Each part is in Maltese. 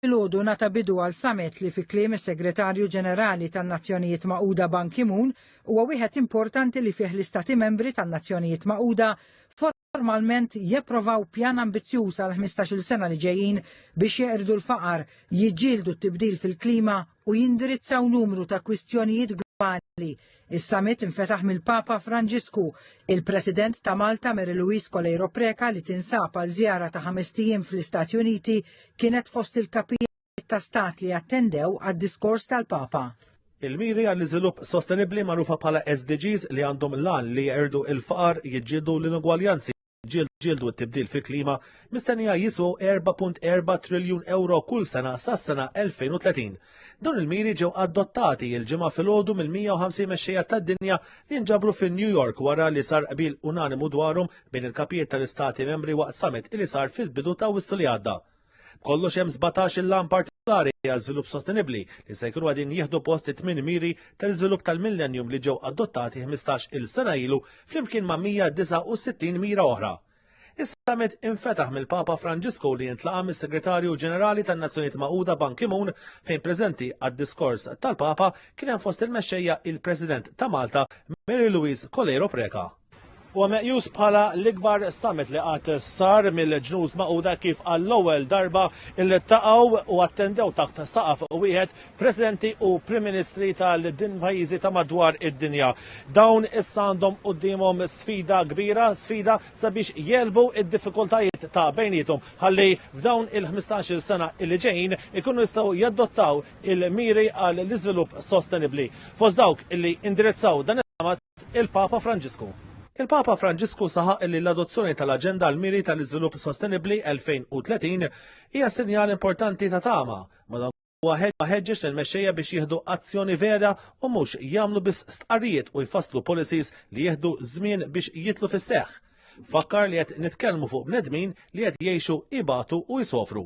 Filgħodu nata bidu għal summit li fi kliem is-Segretarju Ġenerali tan-Nazzjonijiet Magħquda Ban Ki-moon huwa wieħed importanti li fih l-Istati Membri tan-Nazzjonijiet Magħquda formalment japprovaw pjan ambizzjuż għal 15-il sena li ġejjin biex jeqirdu l-faqar, jiġġieldu t-tibdil fil-klima u jindirizzaw numru ta' kwistjonijiet globali Is-summit infetaħ mill-Papa Franġisku, il-President ta' Malta Mary Louise Coleiro Preca li tinsab għal żjara ta' ħamest ijiem fl-Istati Uniti kienet fost il-kapijiet ta' stat li attendew għad-diskors tal-Papa. Il-miri għall-iżvilupp sostenibbli magħrufa bħala SDGs li għandhom l-għan li jeqirdu l-faqar, jiġġieldu l-inugwaljanzi, ġildu t-tibdil fil-klima mistennija jisu 4.4 triljun euro kull sena sas-sena 2030. Dawn il-miri ġew adottati il-ġimgħa filgħodu mill-150 mexxejja tad-dinja li nġabru fin New York wara li sar qbil unanimu dwarhom bejn il-kapijiet tal-istati membri waqt summit li sar fil-bidu ta' Wissu li għadda. Kollox hemm 17 il-lan partikolari għal żvilupp sostenibbli li se jkunu għadin jieħdu post it-tmien miri tal-iżvilupp tal-millennium li ġew adottati 15 il sena ilu flimkien ma' 169 mira oħra. Is-summit infetaħ mill-Papa Franġisku li jintlaqa mis-Segretarju Ġenerali tan-Nazzjonijiet Magħquda Ban Ki-moon fejn preżenti għad-diskors tal-Papa kien hemm fost il-mexxejja il-President ta' Malta Mary Louise Coleiro Preca. Huwa meqjus bħala l-ikbar summit li qatt sar mill-Ġnus Magħquda kif għall-ewwel darba iltaqgħu u attendew taħt saqaf wieħed Presidenti u Prim Ministri tal-din pajjiżi ta' madwar id-dinja. Dawn issa għandhom quddiemhom sfida kbira, sfida sabiex jelbu id-diffikultajiet ta' bejnietom ħalli f'dawn il-15-il sena li ġejjin ikunu jistgħu jadottaw il-miri għall-iżvilupp sostenibbli. Fost dawk illi indirizzaw dan is-summit il-Papa Franġisku. Il-Papa Franġisku saħaq li l-adozzjoni tal-Aġenda għal miri tal-Iżvilupp Sostenibbli 2030 hija sinjal importanti ta' tama, madan Waħed ħeġġeġ lil mexxejja biex jieħdu azzjoni vera u mhux jagħmlu biss stqarrijiet u jfasslu policies li jieħdu żmien biex jitlu fis-seħħ. Fakkar li qed nitkellmu fuq bnedmin li qed jgħixu ibatu u jsofru.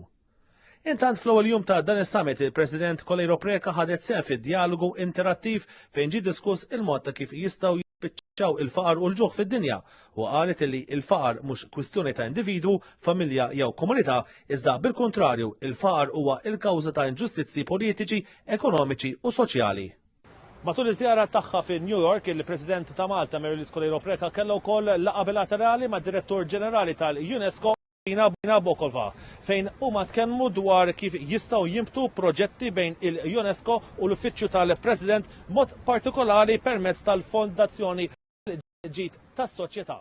Intant fl-ewwel jum ta' dan is-summit il-President Kolejro Preka ħadet sehem fid-dialogu interattiv fejn ġie diskuss il-mod ta' kif jistgħu jispiċċaw il-faqar u l-ġuħ fid-dinja u qalet li l-faqar mhux kwistjoni ta' individwu, familja jew komunità, iżda bil-kuntrarju il-faqar huwa l-kawża ta' inġustizzji politiċi, ekonomiċi u soċjali. Matul iż-żjara tagħha fi New York, il-President ta' Malta Mary Louise Coleiro Preca kellha wkoll laqgħa bilaterali mad-Direttur Ġenerali tal-UNESCO Nabokova, fejn huma tkellmu dwar kif jistgħu jimbtu proġetti bejn il-UNESCO u l-Uffiċċju tal-President mod partikolari permezz tal-Fondazzjoni ġid tas-soċjetà.